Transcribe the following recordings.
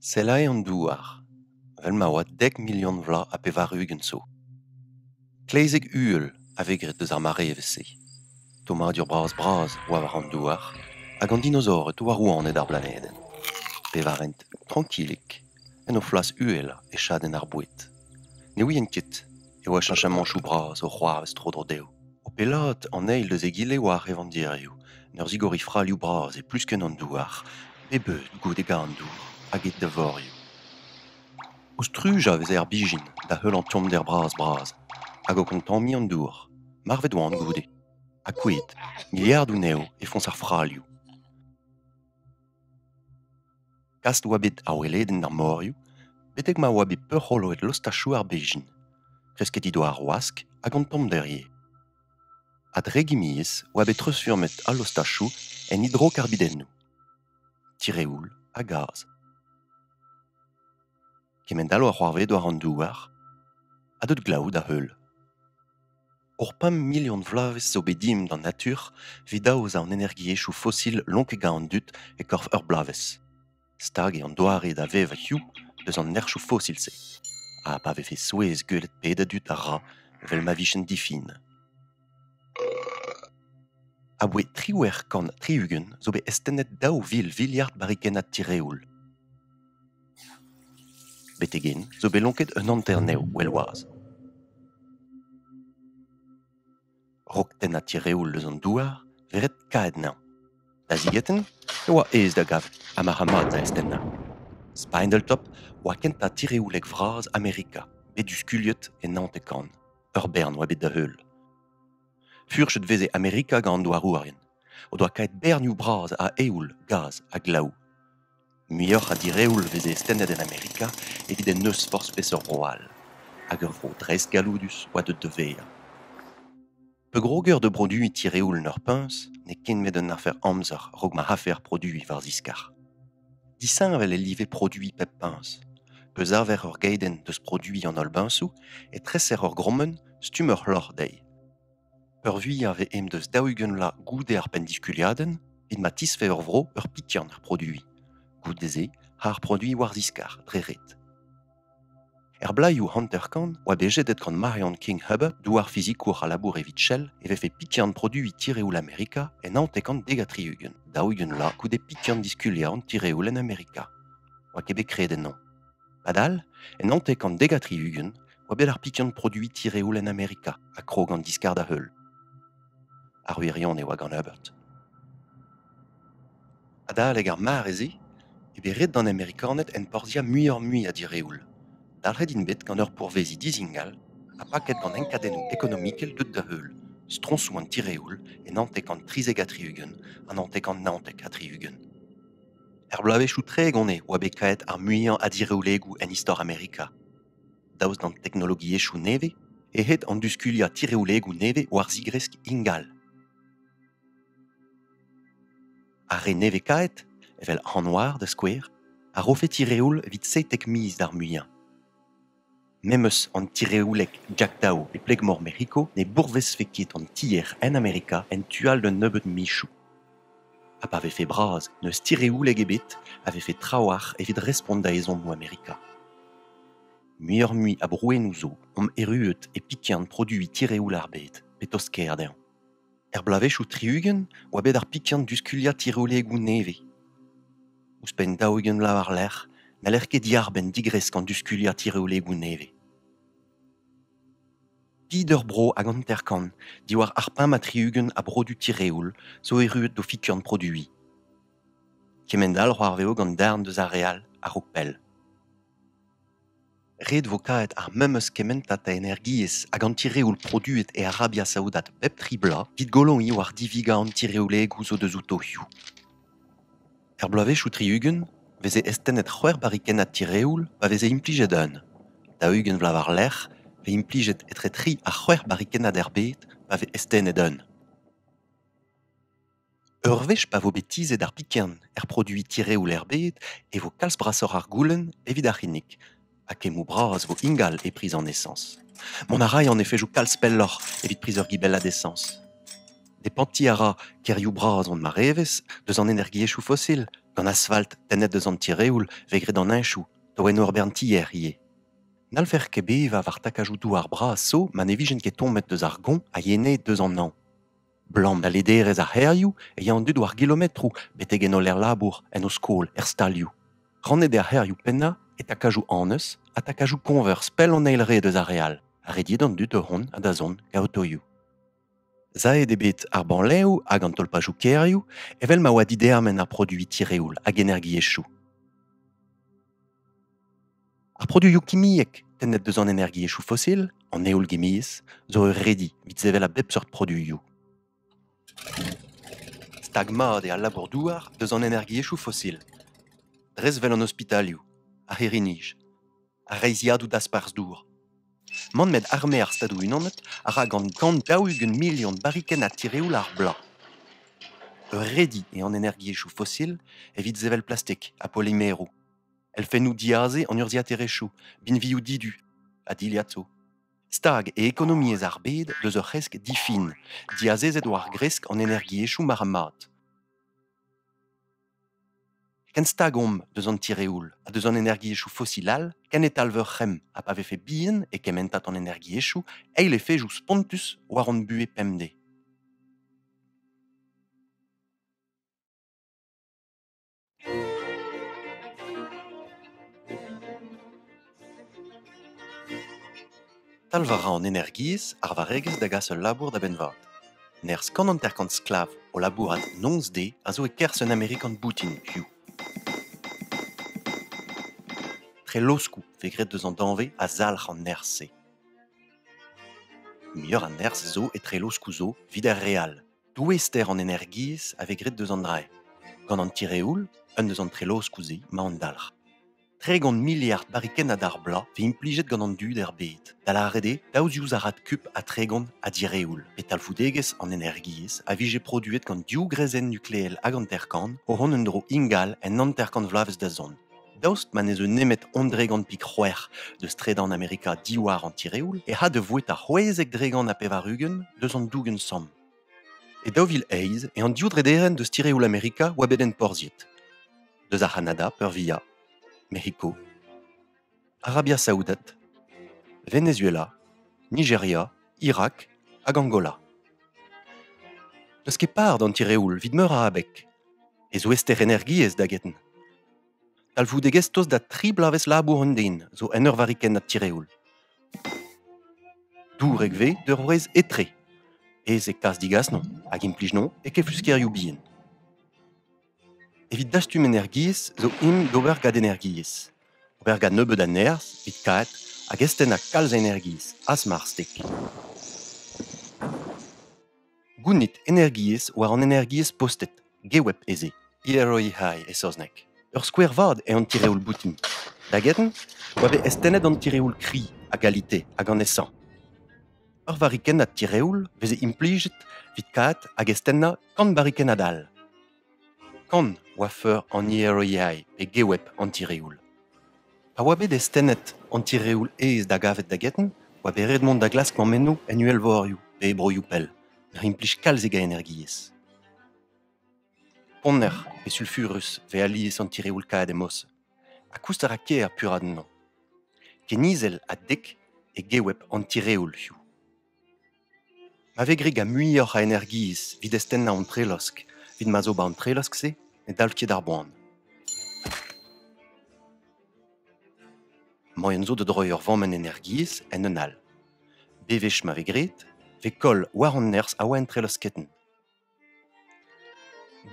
Sellañ an douar vel ma oa dek milion vloaz ha pevar-ugent zo. Klezeg uhel a vez graet deus ar marevezh-se. Tommadur bras-bras oa war an douar hag an dinosaored oa rouaned ar blanedenn. Pevarent trankilik en o flas uhelañ e chadenn ar boued. Ne ouien ket e oa cheñchamañchoù bras o c'hoarvez tro-dro dezho. O pellaat an eil eus egile war revandirioù, en ur zigoriñ fralioù bras e pluskenn an douar, pep eud goude garn-dour hag e devorioù. O strujañ e veze ar bijin da heul an tommder bras-bras hag o kontammiñ an dour, marvet oant goude. Ha kuit, miliardoù 'nezho e foñs ar fralioù. Gast e oa bet ar weledenn er morioù betek ma oa bet peurc'holoet lostachoù ar bezhin. Kresket he doa ar wask hag an tommder ivez. A-dregimiezh oa bet treuzfurmet al lostachoù en hidrokarbidennoù, tireoul ha gaz. kement-all a oa c'hoarvezet war an douar ha deut glav da heul. Ur pemp milion vloavezh zo bet dimp d'an natur evit aozañ an energiezhioù fosil lonkañ an dud e-korf ur bloavezh. Stag eo an doare da vevañ hiziv eus an nerzhioù fosil-se. Ha pa vefe souezh gwelet pet a dud a ra evel ma vijent difin. Abaoe triwec'h kant tri-ugent zo bet astennet daou vil viliard barrikennad tireoul. Betek-hen zo bet lonket un hanter-nev well-wazh. Raok tennañ tireoul eus an douar vez ret kaet anezhañ. Da zigetenn e oa aes da gavout ha marc'h-mat da astennañ. Spinal Tap oa kentañ tireoulek vras Amerika bet diskuliet e naontek kant. ur bern oa bet da-heul. Furchet veze Amerika gant an douarourien, o doa kaet bernioù bras a eoul, gaz ha glaou. Muioc'h a direoul veze stennet en Amerika evit en deus forzh peseurt bro all, hag ur vro dreist galloudus oa deuet da vezañ. Pegroger da broduiñ tireoul en ur puñs n'eo ket met un afer amzer a-raok ma rafer produiñ war ziskar. Disheñvel e live produiñ pep peñs. Peuzarver ur geidenn deus produiñ an holl beñsoù e treser ur grommenn stumm ur c'hloc'h dezhi. Peurvuiañ vez en deus daou-ugent vloaz goude ar penndiskuliadenn evit ma tisfev ur vro ur pikian er produiñ. Goude-se, ar produiñ war ziskar dre ret. Er blaioù hanter-kant oa bet jedet gant Marion King Hubbard, douar-fizikour a labour evit Shell, e vefe pikiant produiñ tireoul Amerika en hanter-kant dek ha tri-ugent, daou-ugent vloaz goude pikiant diskuliañ an tireoul en Amerika. Oa ket bet graet ennañ. Padal, en hanter-kant dek ha tri-ugent oa bet ar pikiant produiñ tireoul en Amerika, ha krog an diskar da heul. Ar wirionez e oa gant Herbert. Adalek ar mare-se eo bet ret d'an Amerikaned enporzhiañ muioc'h-mui a direoul. Dalc'het int bet gant ur pourveziñ dizingal ha paket gant enkadennoù ekonomikel deut da heul, stroñsoù an tireoul e naontek trizek ha tri-ugent ha naontek naontek ha tri-ugent. Er bloavezhioù tregont eo oa bet kaet ar muiañ a direolegoù en istor Amerika. Daoust d'an teknologiezhioù nevez eo aet an duskuliañ tireoùigoù nevez war zigresk ingal. Ar re nevez-kaet, evel Hanwar da skouer, a rofe tireoul evit seitek miz d'ar muiañ. Memes an tireoùeg Jack Dao e Pleg-mor Mec'hiko ne bourvezfe ket an tier en Amerika en tu all d'un nebeud michoù. Ha pa vefe bras n'eus tireouleg ebet a vefe trawalc'h evit respont da ezhommoù Amerika. Muioc'h-mui a brouennoù zo omp erruet e pikian produiñ tireoul ar bed petozh ker dezhañ. Er bloavezhioù tri-ugent oa bet ar pikian diskuliañ tireolegoù nevez. Ouzhpenn daou-ugent vloaz war-lerc'h n'haller ket diarbenn digresk an diskuliañ tireolegoù nevez. Pieder-bro hag hanter-kant diwar ar pemp ha tri-ugent a brodu tireoul zo erruet d'o fiturn produiñ. Kement-all c'hoarveo gant darn deus ar re all a-raok pell. Ret vo kavet ar memes kementad a energiezh hag an tireoul produet e Arabia Saoudat bep tri bloaz evit goloiñ war divigañ an tireolegoù zo deus o taolioù. Er bloavezhioù tri-ugent 'veze eztennet c'hwec'h barrikennad tireoul pa veze implijet un. Daou-ugent vloaz war-lerc'h 'vez implijet etre tri ha c'hwec'h barrikennad er bed pa vez eztennet un. Ur wech pa vo bet tizhet ar pikern er produiñ tireoul er bed e vo kalz brasoc'h ar goulenn evit ar c'hinnig. Ha kemmoù bras vo ingal e priz an esañs. Mont a ray an efezoù kalz pelloc'h evit priz ur gibellad esañs. Depantiñ a ra kêrioù bras hon marevezh deus an energiezhioù fosil, gant asfalt tennet deus an tireoul vez graet an heñchoù, da oenoù ur bern tier ivez. N'hallfer ket bevañ war takajoù douar bras 'zo ma ne vijent ket tommet deus ar goñ a yene deus an hañv. 'Blam da lederezh ar c'hêrioù e ya an dud war gilometroù betek en holl labour, en o skol, er stalioù. Rannet eo ar c'hêrioù pennañ e takajoù annez ha takajoù koñvers pell an eil red eus ar re all, ha rediet an dud da vont ha da zont gaotoioù. Savet eo bet ar banlev hag an tolpajoù kêrioù evel ma oa didermen ar produiñ tireoul hag energiezhioù. Ar produioù kimiek tennet deus an energiezhioù fosil, an heol-gimiezh, zo ur redi evit sevel a bep seurt produioù. Stag mat eo al labour-douar deus an energiezhioù fosil, dres 'vel an ospitalioù, ar c'hirri-nij, ar reizhiadoù dasparzh-dour. Man met arme ar Stadoù-Unanet a ra gant gant daou-ugent milion barrikenn a tireoul ar bloaz. Ur redi eo an energiezhioù fosil evit sevel plastik ha polimeroù. elfennoù diaze an urzhiaterezhioù, binvioù didu ha dilhad zo. Stag e ekonomiezh ar bed deus ur c'hresk difin, diazezet war gresk an energiezhioù marc'h-mat. Ken stag omp deus an tireoul ha deus an energiezhioù fosil all ken e talv ur c'hemm ha pa vefe bihan e kementad an energiezhioù eil efejoù spontus war hon buhez pemdez. Talv a ra an energiezh ar varregezh da gas ul labour da benn-vat. Nerzh kant hanter-kant sklav o labourat noz-de a zo e-kerzh un Amerikan boutin hiziv. Treloskoù vez graet deus an danvez a zalc'h an nerzh-se. Muioc'h a nerzh zo e treloskoù zo evit ar re all. Douester an energiezh a vez graet deus an draeñ. Gant an tireoul, un eus an trelloskoù-se, emañ an dalc'h. Tregont miliard barikennad ar bloaz vez implijet gant an dud er bed, da lâret eo daou ziouzarad kup ha tregont a direoul, pe talvoudegezh an energiezh a vije produet gant div greizenn nukleel hag hanter-kant o vont en-dro ingal en hanter-kant vloavezh da zont. Daoust ma ne zeu nemet ondregan pik c'hwec'h deus tredan Amerika diwar an tireoul e c'ha da vouet ar c'hwezek dregan ha pevar-ugent deus an dougen samm. E daou vil eizh eo an div drederenn deus tireoul Amerika oa bet enporzhiet. Deus ar C'hanada peurvia, Mexico, Arabia Saoudat, Venezuela, Nigeria, Irak hag Angola. Deus ket par d'an tireoul vit meur a abeg, e zo ester energiezh da get Talvoudegezh tost da tri bloavezh labour un den zo en ur varrikennad tireoul. Dourek vez d'ur wrez etre. Ez e kas-digas-non hag implij-non e kefluskerioù bihan. Evit dastum energiezh zo imp d'ober gant energiezh. Ober gant nebeut a nerzh evit kaet hag estennañ kalz a energiezh, asmar stek. Gounit energiezh war an energiezh postet, geweb ez eo, Gilroy-High e saozneg. Ur skouer vat eo an tireoul boutin. Da get-eñ e oa bet eztennet an tireoul kri a galite hag an esañ. Ur varikennad tireoul 'veze implijet 'vit kaat hag eztennañ kant barikennad all. Kant oa feur an hêriae pe geweb an tireoul. Pa oa bet eztennet an tireoul aes da gavet da get-eñ oa bet ret mont da glask mammennoù en uhelvorioù pe e broioù pell, ur implij kalzik a energiezh. Ponner pe sulfurus vez alies an tireoul kaet e Mos, ha koust a ra ker puraat ennañ. Ken izel ha dek eo geweb an tireoulioù. Ma vez graet gant muioc'h a energiezh evit eztennañ an trelosk evit ma zo 'ba an trelosk-se ne dal ket d'ar boan. Moaien zo da droiñ ur vammenn energiezh en un all. Bewech ma vez graet, 'vez koll war an nerzh a oa en trelosketen.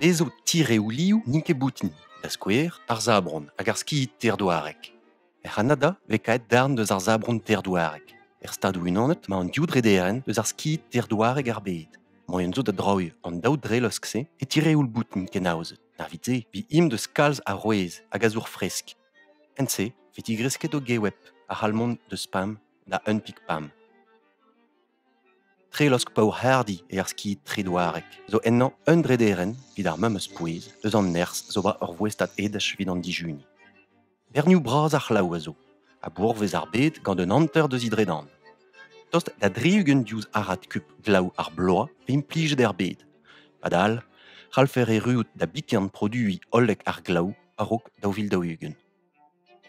Dezho tireoù liv n'int ket boutin, da skouer ar sabron hag ar skid teir-douarek. Er C'hanada vez kaet darn eus ar sabron teir-douarek. Er Stadoù-Unanet emañ an div drederenn eus ar skid teir-douarek er bed. Moaien zo da droiñ an daou drelosk-se e tireoù boutin kenaozet. Na evit-se vez int eus kalz arouez hag azour fresk. En-se vez digresket o geweb, ar c'halmon deus pam da unpig pam. Trelosk paour-c'hardi eo ar skid tredouarek zo ennañ un drederenn evit ar memes pouez eus an nerzh zo bet ur voestad edaj evit an dijuni. Bernioù bras ar c'hlav a zo, a bourvez ar bed gant un hanter deus he dredan. Tost da dri-ugent diouzh arad kup glav ar bloaz pe implijet er bed. Padal, c'hallfer erruout da biken produiñ hollek ar glav a-raok daou vil daou-ugent.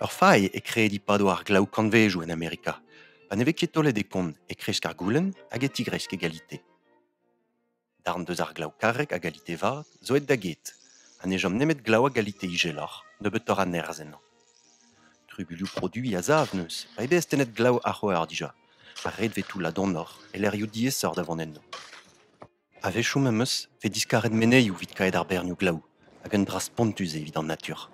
Ur fae eo krediñ padoù ar glav kantvezoù en Amerika, pa ne vez ket taolet e kont e kresk ar goulenn hag e tigresk egalité. Darn deus ar glav karrek a galite vat zo aet da get ha ne chom nemet glav a galite ijeloc'h nebeutoc'h a nerzh ennañ. Trubuilhoù produiñ a-sav neus, pa eo bet astennet glav ar c'houer dija, ha ret vez toullañ donoc'h e lec'hioù diaesoc'h da vont enno. A-wechoù me'm eus e vez diskaret menezioù evit kaet ar bernioù glaou, hag un dra spontus eo evit an natur.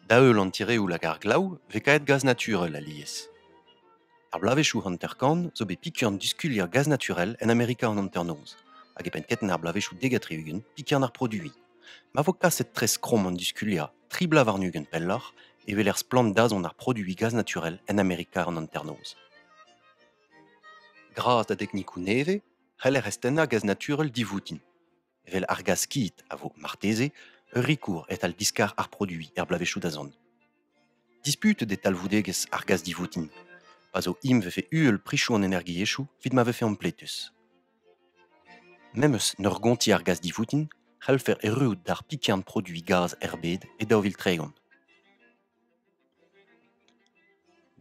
Da-heul an tireoul hag ar glaou vez kaet gaz naturel alies. Ar bloavezhioù hanter-kant zo bet pikurn diskulier gaz naturel en Amerika an hanternoz, hag e penn keten ar bloavezhioù dek-ha-tri-ugent pikurn ar produiñ. Ma vo kaset tres krom an diskulier tri bloaz warn-ugent pelloc'h, e weler splann dazont ar produiñ gaz naturel en Amerika an hanternoz. Gra da deknikoù nevez c'heller eztennañ gaz naturel divoutin, evel ar gaz kit a vo marteze ur rikour e-tal diskar ar produiñ er bloavezhioù da zont. Disput eo talvoudegezh ar gaz divoutin, pa zo im vefe uhel prichoù an energiezhioù evit ma vefe ampletus. Memes en ur gontiñ ar gaz divoutin c'hellfer erruout d'ar pikern produiñ gaz er bed e daou vil tregont.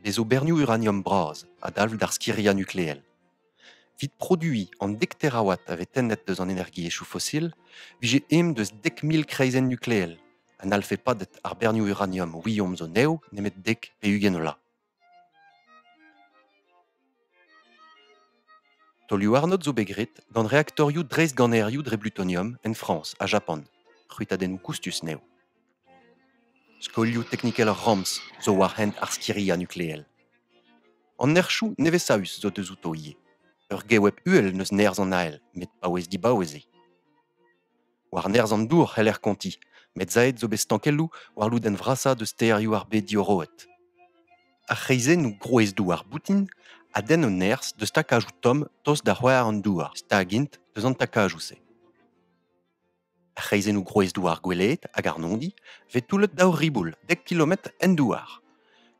Me zo bernioù uraniom bras a-dalv d'ar skiriañ nukleel. Evit produiñ an dek terawatt a vez tennet deus an energiezhioù fosil, vije aes deus dek mil kreizenn nukleel, ha n'hallfe padet ar bernioù uraniom ouiomp zo nev nemet dek pe ugent vloaz. Taolioù-arnod zo bet graet gant reaktorioù dreistganerioù dre blutonium en Frañs ha Japan. C'hwitadennoù koustus eo. Skolioù teknikel ar ramz zo war hent ar skiriañ nukleel. An nerchoù nevez-saus zo deuzuto ivez. Ur geweb uhel n'eus nerzh an ael met paouez-dibaouez eo. War nerzh an dour c'heller kontiñ, met zaet zo bet stankelloù war lodenn vrasañ deus stêrioù ar bed diorroet. Ar c'hreizennoù grouez-douar boutin a denn o nerzh deus takajoù tomm tost da c'hwar an douar, stag int deus an takajoù-se. Ar c'hreizennoù grouez-douar goueleet hag arnondi vez toullet daou riboul dek kilometr en douar.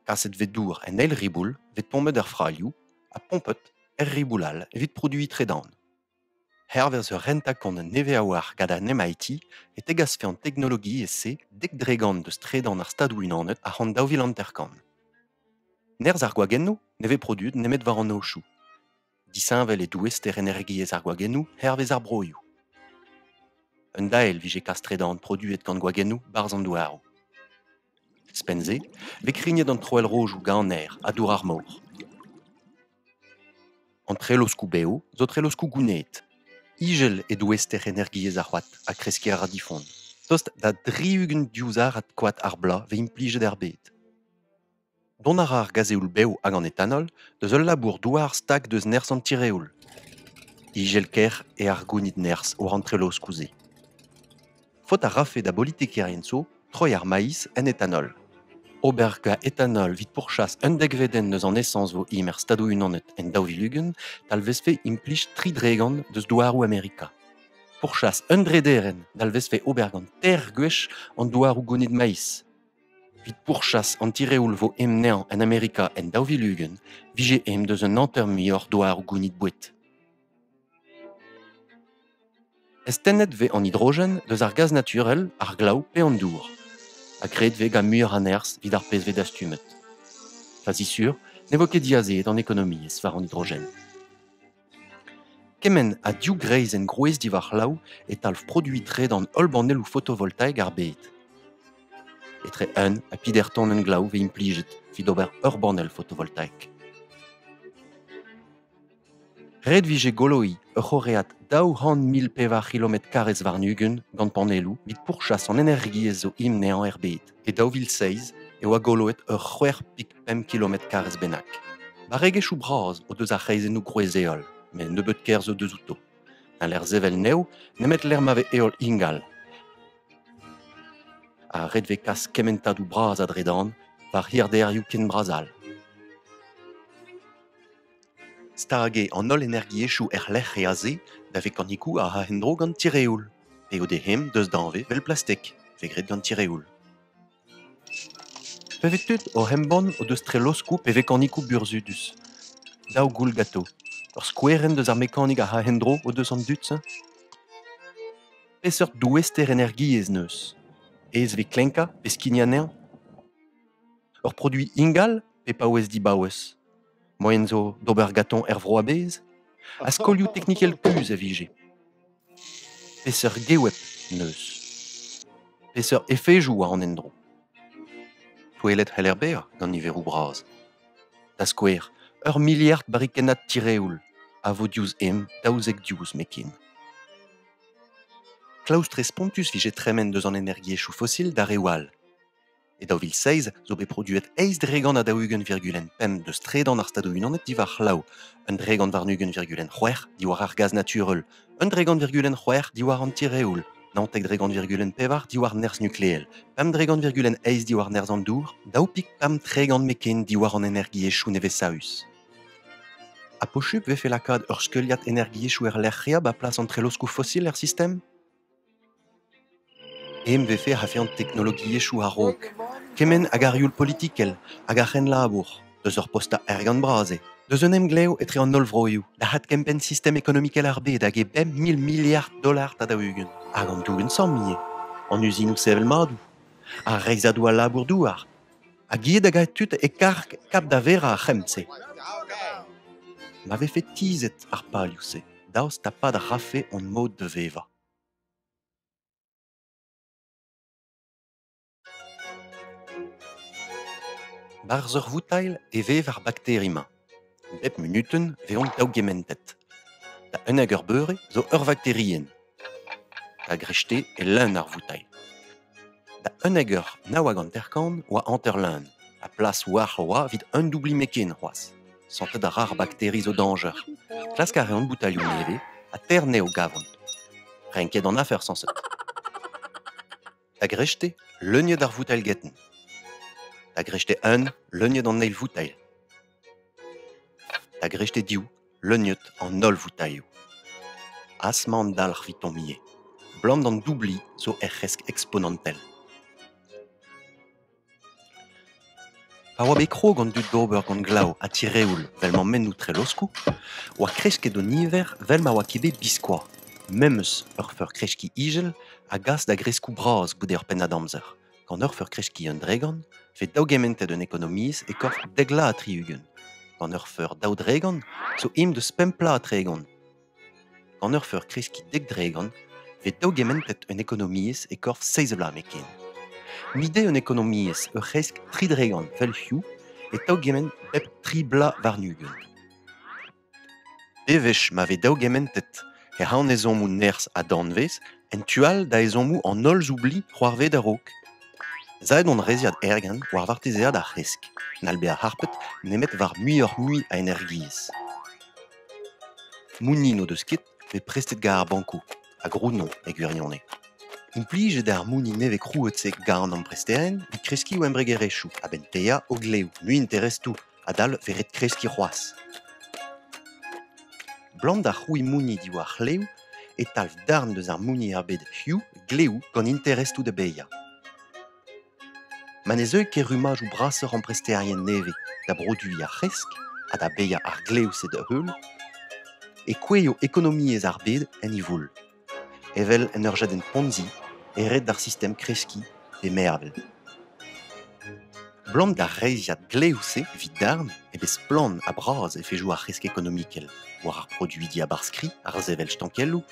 Kaset vez dour en eil riboul vez tommet er fralioù ha pompet er riboul all evit produiñ tredan. Hervez ur renta-kont nevez-a-walc'h gant an MIT e tegasfe an teknologiezh-se dek dregont eus tredan ar Stadoù-Unanet a-c'hant daou vil hanter-kant. Nerzh ar gwagennoù ne vez produet nemet war an aochoù. Disheñvel eo douester energiezh ar gwagennoù hervez ar broioù. Un dael vije kas tredan produet gant gwagennoù 'barzh an douaroù. Ouzhpenn-se, vez krignet an troell-rojoù ganer ha dour ar mor. An treloskoù bev zo treloskoù gouneet. Ijel eo douester energiezh ar c'hoad ha kreskiñ a ra difon. Tost da dri-ugent diouzharad koad ar bloaz vez implijet er bed. Dont a ra ar gazeoul bev hag an etanol deus ul labour-douar stag deus nerzh an tireoul. Ijel-kaer eo ar gounid nerzh war an treloskoù-se. Faot a rafe da bolitikerien zo troiñ ar maiz en etanol. Ober gant etanol evit pourchas un degredenn eus an esañs zo-hi er Stadoù-Unanet en daou vil ugent talvezfe implij tri dregont deus douaroù Amerika. Pourchas un drederenn dalvezfe ober gant teir gwech an douaroù gonit maiz. Evit pourchas an tireoul vo emneñv en Amerika en daou vil ugent vije em deus un hanter muioc'h douaroù gonit boued. Astennet vez an hidrogen deus ar gaz naturel, ar glav pe an dour, ha graet vez gant muioc'h a nerzh evit ar pezh vez dastumet. Fazi sur ne vo ket diazeet an ekonomiezh war an hidrogen. Kement ha div greizenn grouez diwar c'hlav e talv produiñ-tre d'an holl banelloù photovoltaek ar bed. Etre un ha pider tonenn glav vez implijet evit ober ur banell photovoltaek. Ret 'vije goloiñ ur c'horread daou c'hant mil pevar c'hilometr karrez warn-ugent gant panelloù evit pourchas an energiezh zo himneañ er bed. E daou vil seizh e oa goloet ur c'hwec'h pik pemp kilometr karrez bennak. Barregezhioù bras o deus ar c'hreizennoù gwrez-heol, met nebeut kerzh o deus outo. Un lec'h sevel nev nemet lec'h ma vez heol ingal. Ha ret vez kas kementadoù bras a-dredan war hirderioù ken bras all. Stag eo an holl energiezhioù erlec'h ease da vekanikoù a ra en-dro gant tireoul, p'eo d'e c'hemm deus danvez evel plastek, vez graet gant tireoul. Bevet-tud oc'h embann o deus treloskoù pe vekanikoù burzhudus. Daou goull gato. Ur skouerenn deus ar mekanik a ra en-dro o deus an dud-se ? Peseurt douester energiezh 'neus ? Aes vez klenkañ pe skign anezhañ ? Ur produiñ ingal pe paouez dibaouez ? Moaien zo d'ober gatoñ er vro a-bezh? Ha skolioù teknikel kuzh a vije? Peseurt geweb 'neus? Peseurt efezoù war an endro? Touellet c'heller bezañ gant niveroù bras. Da skouer, ur miliard barrikennad tireoul a vo diouzh emp daouzek diouzh met ken. Klaoustre spontus 'vije tremen deus an energiezhioù fosil d'ar reoù all. E daou vil seizh zo bet produet eizh dregan a daou-ugent virgulent pemp deus tredan ar Stadoù-Unanet diwar c'hlav, un dregan warn-ugent virgulent c'hwec'h diwar ar gaz naturel, un dregan virgulent c'hwec'h diwar an tireoul, naontek dregan virgulent pevar diwar nerzh nukleel, pemp dregan virgulent eizh diwar nerzh an dour, daou pik pemp tregan meken diwar an energiezhioù nevez-saus. Ha pochub vefe lakaat ur skeuliad energiezhioù er lec'h re ba plas an treloskoù fosil er sistem? Em befe a-fe'h teknologiezhioù a-raok kement hag ar youl politikel hag ar c'henlabour, deus ur postañ ergant-bras eo, deus un emglev etre an holl vroioù, da adkempenn sistem ekonomikel ar bed hag e bemp mil miliard dolar da daou-ugent, hag an dour-insamm ivez, an uzinoù sevel-madoù, ar reizhadoù al labour-douar. Ha gouiet hag a tud e karg kap da verañ ar c'hemm-se. Ma vefe tizhet ar palioù-se daoust ha pad a rafe hon mod da vevañ. Barzh ur voutailh e vev ar bakteri-mañ. Bep munutenn e vez daougementet. Da unnek eur beure zo ur vakterienn. Da greñvde e leun ar voutailh. Da unnek eur nav hag hanter-kant oa hanter-leun, ha plas oac'h oa evit un doublimekenn c'hoazh. Santet a ra ar bakteri zo dañjer. Klask a reont boutalioù nevez ha ter-nez o gavont. Renket an afer sañset. Da greñvde, leuniet ar voutelgetenn. Da greñvde eun, leuniet an eil voutel. Da greñvde diou, leuniet an holl voutailhoù. Asma an dalc'h vitomm ivez. 'Blam d'an doubli zo er c'hresk eksponantel. Pa oa bet krog an dud d'ober gant glav ha tireoul 'vel mammennoù treloskoù 'oa kresket o niver 'vel ma oa ket bet biskoazh. Memes ur feur-kreskiñ ijel a gas da greskoù bras goude ur pennad amzer. Gant ur feur-kreskiñ un dregont 'vez daougementet un ekonomiezh e-korf dek 'la ha tri-ugent. Gant ur feur daou dregont 'zo aimp deus pemp 'la ha tregont. Gant ur feur kreskiñ dek-dregont e vez daougementet un ekonomiezh e korf seizh vloaz nemetken. Mil dezhe an ekonomiezh ur c'hresk tri-dregont vel hiziv e taougemment bep tri bloaz warn-ugent. Devezh ma vez daougementet he c'hanezommoù nerzh ha danvez en tu all da ezhommoù an holl zoubli c'hoarvet a-raok. Ez aet hon reizhiad ergent war vartezeaat ar c'hresk, n'hall bezañ harpet nemet war muioc'h-mui a energiezh. Mounni n'o deus ket, met prestet gant ar bankoù, hag Runo e gwirionez. Implijet eo ar mounni nevez-krouet-se gant an ampresterien evit kreskiñ o embregerezhioù a-benn paeañ o glev, muiinterestoù adal vez ret kreskiñ c'hoazh. Blam da c'hrouiñ mounni diwar c'hlev e talv darn deus ar mounni er bed Hugh glev gant interestoù da baeañ. ma ne zeu ket rummadoù brasoc'h ampresterien nevez da broduiñ ar c'hresk ha da baeañ ar glev-se da-heul e kouezho ekonomiezh ar bed en he voull evel en ur jadenn ponzi e red d'ar sistem kreskiñ e mervel. Blam d'ar reizhiad glev-se evit darn eo bet splann ha bras efezoù ar c'hresk ekonomikel war ar produidi a-barzh-kri, ar sevel stankelloù,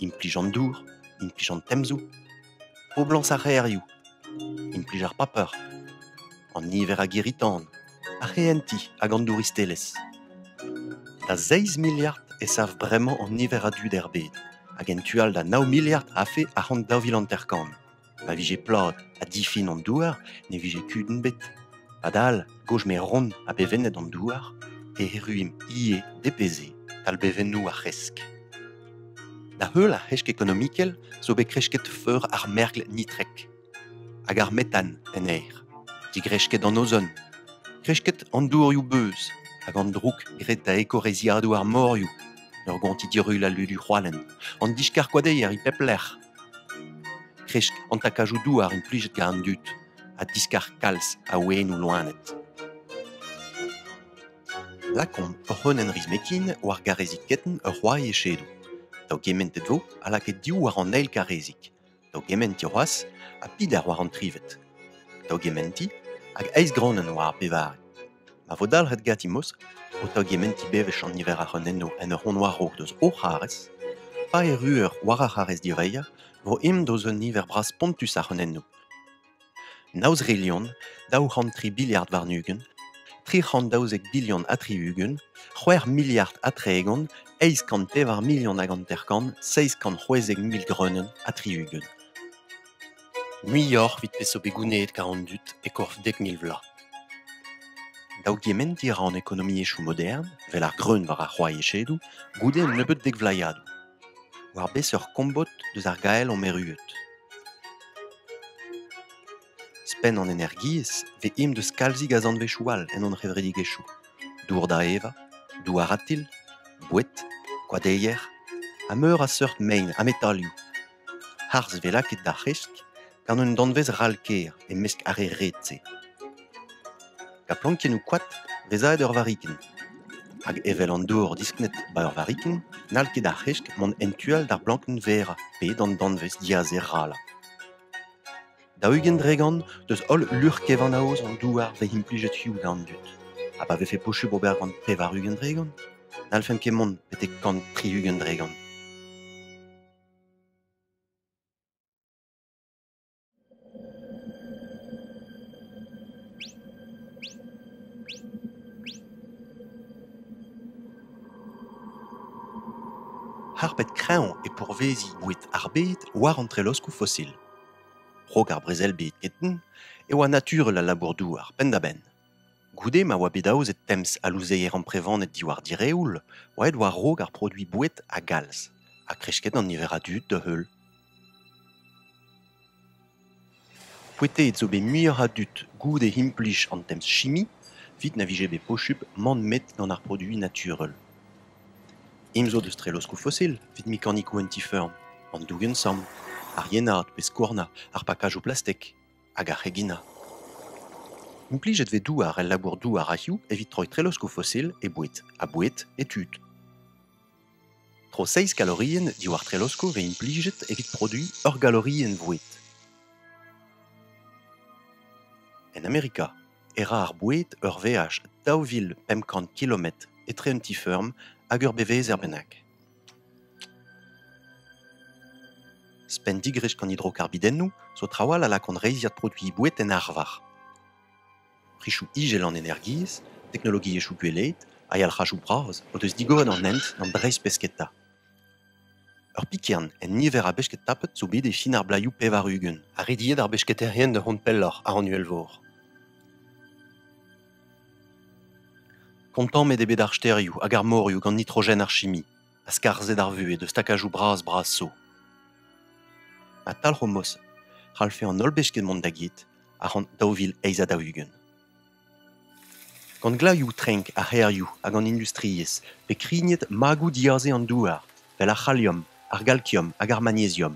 implij an dour, implij an temzoù. Poblañs ar c'hêrioù, implij ar paper, an niver a girri-tan, ar c'hehentiñ hag an douristelezh. Da seizh miliard e sav bremañ an niver a dud er bed, hag en tu all da nav miliard a-fe ac'hann daou vil hanter-kant. Ma vije plad ha difin an douar, ne vije kudenn bet. Padal, gozh-meron ha bevennet an douar, e erruimp ivez depeze talbevennoù ar c'hresk. Da heul ar c'hresk ekonomikel zo bet kresket feur ar mergl nitrek hag ar metan en aer, digresket an ozon, kresket an dourioù-beuz hag an droug graet da ekoreizhiadoù ar morioù en ur gontiñ dirull al ludu c'hoalen, an diskarkoadeier e pep lec'h. Kresk an takajoù douar implijet gant an dud ha diskar kalz a wenoù loened. Lakaomp ur c'hreunenn rizmetin war garrezig ketenn ur c'hoari echedoù. Daou gementet vo ha lakaet div war an eil garrezig. Daou gementiñ c'hoazh ha pider war an trivet. Daou gementiñ hag eizh gronenn war ar pevare. Ma vo dalc'het ganti mos ho taougementiñ bewech an niver a c'hreunennoù en ur c'hont war-raok deus o c'harrez, pa erru eur war ar c'harrez direizhañ, vo aimp deus un niver bras spontus a c'hreunennoù. Nav zrilhon, daou c'hant tri biliard warn-ugent, tri c'hant daouzek bilion ha tri-ugent, c'hwec'h miliard ha tregont, eizh kant pevar milion hag hanter-kant, seizh kant c'hwezek mil greunenn ha tri-ugent. Muioc'h evit peseurt bet gounezet kar an dud e-korf dek mil vloaz. Daougementiñ a ra an ekonomiezhioù modern, 'vel ar greun war ar c'hoaiechedoù, goude un nebeud dek vloaziadoù. War beseurt kombod deus ar gael omp erruet ? Ouzhpenn an energiezh vez aet deus kalzig a zanvezioù all en hon c'hevredigezhioù : dour da evañ, douar atil, boued, koadeier ha meur a seurt mein ha metalioù. Harz 'vez lakaet d'ar c'hresk gant un danvez ral-kaer e-mesk ar re ret-se. Ha plankennoù koad resaet ur varikenn. Hag evel an dor disknet ba ur varikenn, n'hall ket ar c'hesk mont en tu all d'ar blankenn verrañ pe d'an danvez diazer ralañ. Daou-ugent dregant deus holl luc'h-kevanaoz an douar bet implijet hiziv gant an dud. Ha pa vefe posubl ober gant pevar-ugent dregant, n'hallfent ket mont betek kant tri-ugent dregant. Harpet kreñv e pourvezi boued ar bed war an treloskoù fosil. Krog ar brezel bed getoñ e oa naturel al labour-douar penn-da-benn. Goude ma oa bet aozet temz al louzeier amprevaned diwar direoul, oa aet war-raok ar produiñ boued a galz, ha kresket an niver a dud da-heul. C'hwitaet zo bet muioc'h a dud goude implij an temz-chimi evit na vije bet posupl mont met gant ar produiñ naturel. Eñ zo deus treloskoù fosil evit mekanikoù an ti-feurm, an dougen-samm, ar yenaat pe skouarnañ ar pakajoù plastek hag ar c'heginañ. Implijet vez douar el labour-douar a-hiziv evit troiñ treloskoù fosil e boued ha boued e tud. Tro seizh galorienn diwar treloskoù vez implijet evit produiñ ur galorienn voued. En Amerika e ra ar boued ur veaj daou vil pemp kant kilometr etre un ti-feurm hag ur bevezer bennak. Spenn-digrez an hidrokarbidennoù zo trawalc'h a lakaont reizhiad produiñ boued en arvar. Prisoù izel an energiezh, teknologiezhioù gweleed ha yalc'hajoù bras o deus digoret an hent d'an dreistpesketa. Ur pikern en niver a besked tapet zo bet e fin ar blaioù pevar-ugent ha rediet ar besketaerien da vont pelloc'h àr an uhelvor. Kontammet eo bet ar stêrioù hag ar morioù gant nitrogen ar chimi. ha skarzhet ar vuhez eus stakajoù bras-bras zo. Ha talc'homos c'hallfe an holl besked mont da get a-ran daou vil eizh ha daou-ugent. Gant glaioù-trenk ar c'hêrioù hag an industriezh pe krignet magoù diaze an douar, fel ar c'haliom, ar galkiom hag ar magneziom.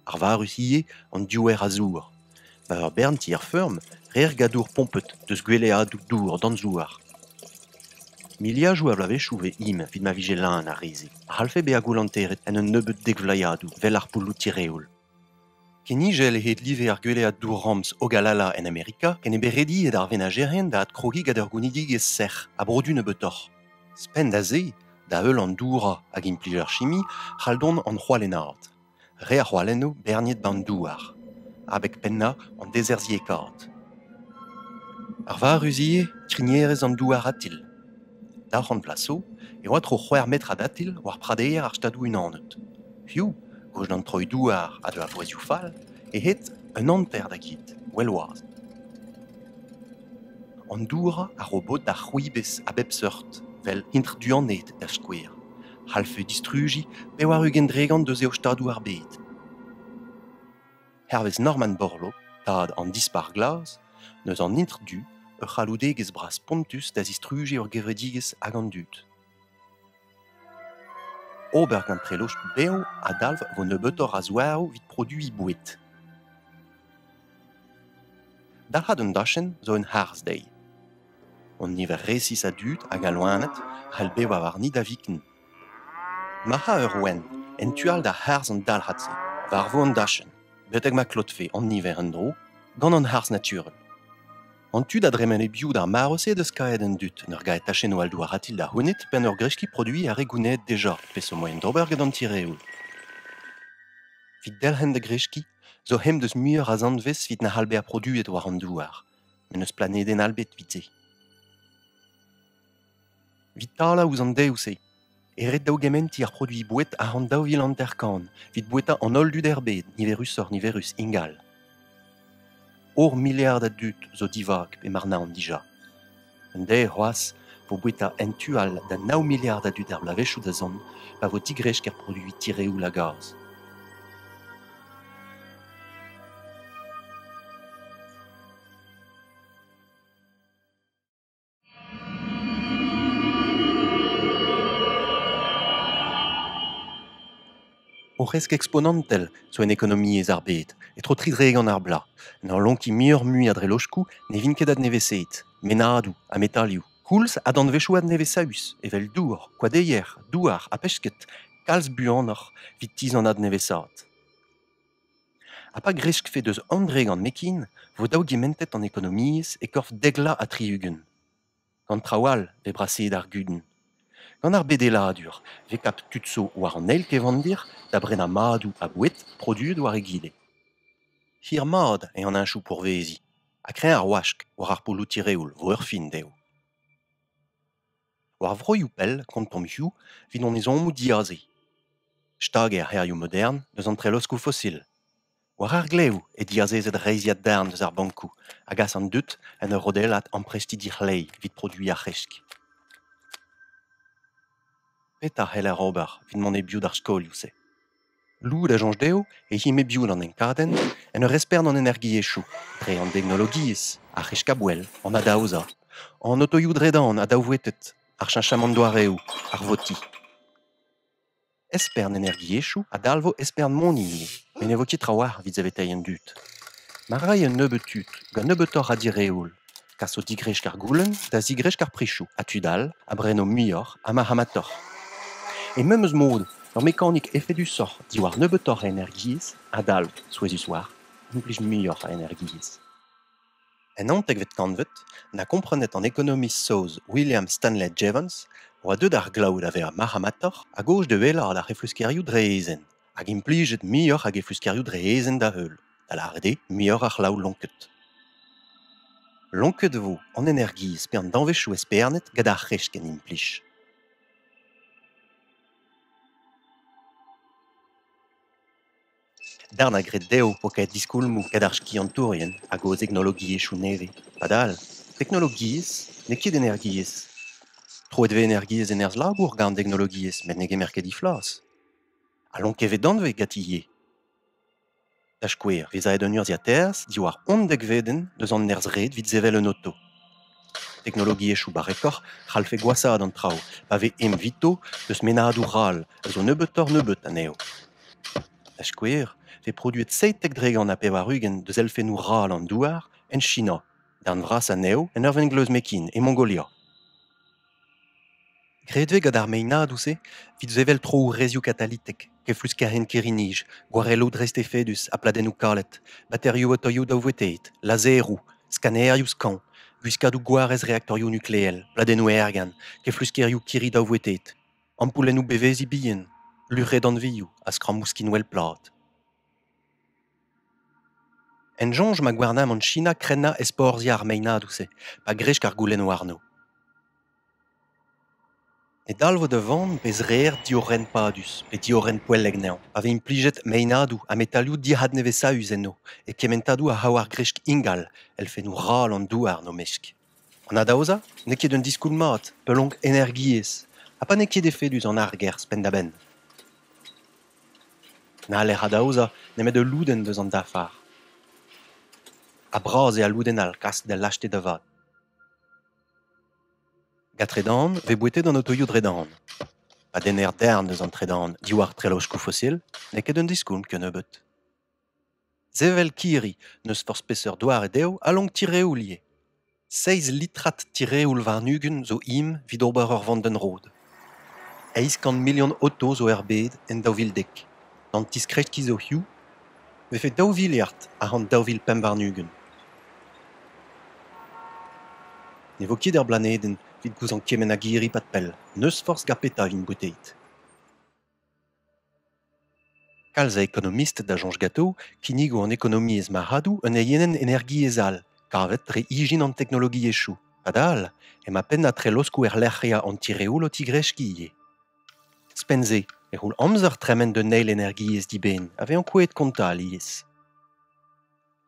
Arvarus ivez an diouer a zour. Ma ur bern tier-feurm reer gadour pompet deus gweleadoù dour danzouar. Miliadoù a vloavezhioù e vez im evit ma vije leun ar re-se, a c'hallfe bezañ goulanteret en un nebeud dekvloaziadoù 'vel ar poulloù tireoul. Kenijel eo hed-live ar gwelead dour-ramz Ogalalla en Amerika ken eo bet rediet ar venajerien da adkrogiñ gant ur gounidigezh sec'h ha brodu nebeutoc'h. Ouzhpenn da se, da-heul an dourañ hag implij ar chimi c'hall dont an c'hoalennaat, re ar c'hoalennoù berniet ba'n douar, abeg pennañ an dezerzhiekaat. Arvarus ivez krignerezh an douar atil. Daou c'hant vloaz zo e oa tro c'hwec'h metr adatil war pradeier ar Stadoù-Unanet. Hiziv, gouest d'an troioù-douar ha da vouezhioù fall, eo aet un hanter da get well-wazh. An dourañ a ro bod d'ar c'hwibez a bep seurt, vel intr-duaned da skouer, c'hallfe distrujiñ pevar-ugent dregont eus eo Stadoù ar bed. hervez Norman Borlaug, tad an Dispac'h Glas, n'eus an Intr Du ur c'halloudegezh bras spontus da zistrujiñ ur gevredigezh hag an dud. Ober gant treloch bev a dalv vo nebeutoc'h a zouaroù evit produiñ boued. Dalc'hat un dachenn zo un harz-deiz. An niver resis a dud hag a loened c'hell bevañ warni da viken. Ma ra ur ouenn en tu all da harz an dalc'had-se war-vo an dachenn betek ma klotfe an niver en-dro gant an harz naturel. An tu da dremen e-biou d'ar mare-se deus kaeet an dud en ur gae tachennoù all douaratil da c'hounit penn ur greskiñ produiñ ar re gounezet deja peseurt moaien d'ober gant an tireoul. Evit delc'hen da greskiñ zo c'hem deus muioc'h a zanvez evit na c'hall bezañ produet war an douar met n'eus planedenn all bet evit se. Evit talañ ouzh an dev-se e rit daougementiñ ar produiñ boued a-ran daou vil hanter-kant evit bouetañ an holl dud er bed, niverusoc'h-niverus ingal. Hor miliard a dud zo divak e Marnaon dija. Un deiz c'hoazh vo bouetañ en tu all da nav miliard a dud er bloavezhioù da zont pa vo digresk er produiñ tireoul a gaz. O c'hresk eksponantel zo en ekonomiezh ar bed, e-tro tri dregont ar bloaz. N'eo lonkiñ muioc'h-mui a dreloskoù, ne vint ket adnevesaet. Mennadoù ha metalioù, koulz ha danvezioù adnevesaus evel dour, koadeier, douar ha pesked, kalz buanoc'h evit tizh an adnevesaat. Ha pa greskfe deus Andre gant Mekin vo dav gementet an ekonomiezh e korf deglañ ha tri-ugent. Gant traoù all vez braseet ar gudenn. Gant ar bedeladur vez kavet tud zo war an eil kevandir da brenañ madoù ha boued produet war egile. Hir-mat eo an heñchoù pourveziñ ha kreñv ar wask war ar poloù tireoul vo ur fin dezho. War vroioù pell, kontomp hiziv, evit hon ezhommoù diaze. Stag eo ar c'hêrioù modern deus an treloskoù fosil. War ar glevoù eo diazezet reizhiad darn deus ar bankoù a gas an dud en ur rodellat amprestiñ dic'hleiñ evit produiñ ar c'hresk. Petra c'heller ober evit mont e-biou d'ar skolioù-se? Lod a soñj dezho e him e-biou d'an enkadenn en ur esper d'an energiezhioù dre an deknologiezh, ar c'heskabouell, an adaozañ, an otoioù-dredan adaouetet, ar cheñchamant doareoù, ar votiñ. Espern energiezhioù a dalvo espern moni ivez met ne vo ket trawalc'h evit saveteiñ an dud. Ma ray un nebeud tud gant nebeutoc'h a direoul. Kas o digresk ar goulenn da zigresk ar prizoù ha tud all a breno muioc'h ha marc'hamatoc'h. E memes mod, ur mekanik efedusoc'h diwar nebeutoc'h a energiezh a dalv, souezhus-war, implij muioc'h a energiezh. En naontekvet kantved, na komprenet an ekonomist saoz William Stanley Jevons a oa deuet ar glav da vezañ marc'hamatoc'h a-gozh da wellaat ar c'hefluskerioù dre eezen, hag implijet muioc'h a gefluskerioù dre eezen da-heul. da lâret eo muioc'h a c'hlav lonket. Lonket e vo an energiezh pe an danvezioù espernet gant ar c'hrech ken implij. Darn a gred dezho eo kae diskoulmoù gant ar skiantourien hag o teknologiezhioù nevez. Padal, teknologiezh n'eo ket energiezh. Troet e vez energiezh en erzh-labour gant an teknologiezh met ne gemer ket he flas. Ha lonket e vez danvez ganti ivez. Da skouer, vez aet un urzhiataers diwar undekvedenn eus an nerzh-red evit sevel un oto. Teknologiezhioù barrekoc'h c'hallfe gwashaat an traoù pa vez evito eus mennadoù ral a zo nebeutoc'h-nebeut anezho. Da skouer, vez produet seitek dre gant ha pevar-ugent deus elfennoù ral an douar en China, darn vras anezho en ur vengleuz Mekin e Mongolia. Graet eo gant ar meinadoù-se evit sevel troourezioù katalitek, kefluskerien kirri-nij, gwarelloù dreist-efedus ha pladennoù kalet, baterioù otoioù daouveteet, lazeroù, skanerioù skañv, gwiskadoù gwarez reaktorioù nukleel, pladennoù aergan, kefluskerioù kirri daouveteet, ampoulennoù beveziñ bihan, luc'hedanvioù ha skrammoù skinwel plat. En soñj ma gouarnamant China krennañ ezporzhiañ ar meinadoù-se pa gresk ar goulennoù warno. Ne dalvo da vont pezh reer diorren padus pe diorren poellek anezhañ pa vez implijet meinadoù ha metalioù dic'hadnevesaus enno e kementadoù a c'hav ar gresk ingal elfennoù ral an douar n'o mesk. An adaozañ n'eo ket un diskoulm mat, peulonk energiezh, ha pa n'eo ket efedus an argerzh penn-da-benn. N'haller adaozañ nemet ul lodenn eus an dafar. Ha bras eo al lodenn all klask da lakaat da vat. Gant tredan vez bouetet an otoioù tredan. Pa denner darn eus an tredan diwar treloskoù fosil n'eo ket un diskoulm kennebeut. Sevel kirri, n'eus forzh peseurt doare dezho a lonk tireoul ivez. Seizh litrad tireoul warn-ugent zo im evit ober ur vandenn-rod. Eizh kant milion oto zo er bed en daou vil dek. D'an tiskreskiñ zo hiziv e vefe daou viliard a-hed daou vil pemp warn-ugent. Ne vo ket er blanedenn evit gouzañv kement a girri-pad-pell, n'eus forzh gant petra evit bouteet. Kalz a ekonomisted a soñj ganto kinnigo an ekonomiezh marc'hadoù un eienenn energiezh all kavet dre ijin an teknologiezhioù. Padal emañ pennañ treloskoù erlec'hiañ an tireoul o tigreskiñ ivez. Ouzhpenn-se e c'houll amzer tremen d'un eil energiezh dibenn a vez ankouaet kontañ alies.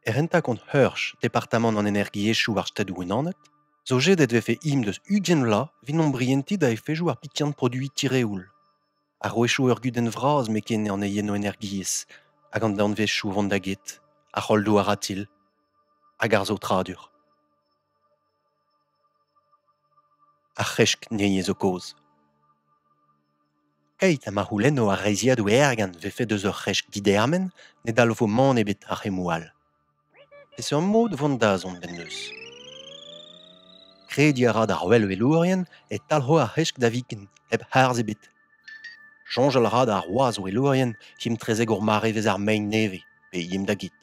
Er rentañ-kont Heurch, departamant an energiezhioù ar Stadoù-Unanet, zo jedet e vefe imp deus ugent vloaz evit ombrientiñ da efezoù ar pikiant produiñ tireoul. A-wechoù ur gudenn vras m'eo ken an eniennoù-energiezh hag an danvezioù vont da get, ar c'holdoù aratil hag ar saotradur. Ar c'hresk-neniezh zo kaoz. Keit ha ma c'houlenno ar reizhiadoù ergant 'vefe deus ur c'hresk didermen, ne dalvo mann ebet ar c'hemmoù all. Peseurt mod vont dazont bennozh? Krediñ a ra d'ar wellwelourien e talc'ho ar c'hresk da viken hep harz ebet. Soñjal a ra d'ar wazh-welourien himtrezek ur marevezh ar mein nevez pe him da get.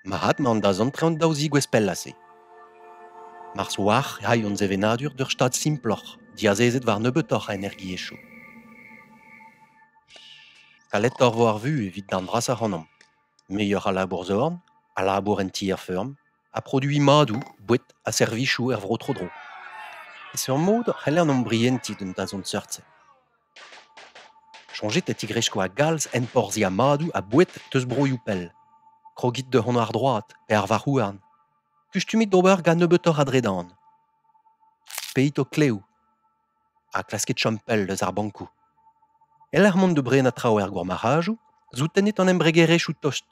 Mat mont da zantreñ an daou zigouezh pellañ-se. Mars oac'h e c'hall hon sevenadur d'ur stad simploc'h, diazezet war nebeutoc'h a energiezhioù. Kaletoc'h vo ar vuhez evit darn vrasañ ac'hanomp. Muioc'h a labour-zorn, a labour en tier-feurm, ha produiñ madoù, boued ha servijoù er vro tro-dro. Peseurt mod c'heller hon brientiñ d'un dazont seurt-se? Soñjit e tigresko a-galz enporzhiañ madoù ha boued deus broioù pell. Krogit da hont àr-droad pe àr varc'h-houarn. Kustumit d'ober gant nebeutoc'h a dredan. Peit ho klev ha klaskit chom pell eus ar bankoù. E-lec'h mont da brenañ traoù er gourmarc'hajoù, soutennit an embregerezhioù tost.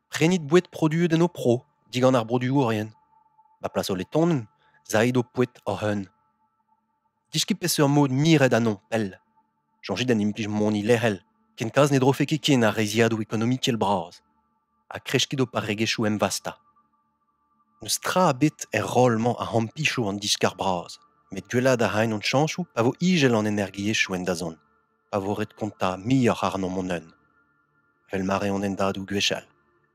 Prenit boued produet en ho pro digant ar broduourien. Ma plas ho letonenn, sait ho poued hoc'h eeun. Deskiñ peseurt mod miret ha non pell. Soñjit en implij moni lec'hel, ken kalz ne drofe ket ken ar reizhiadoù ekonomikel bras. Ha kreskiñ d'ho parregezhioù emvastañ. N'eus tra ebet er roll-mañ a ampicho an diskar bras, met gwellaat a raint hon chañsoù pa vo ijel an energiezhioù en dazont, pa vo ret kontañ muioc'h àrnomp hon-un. Vel ma reont hendadoù gwechall.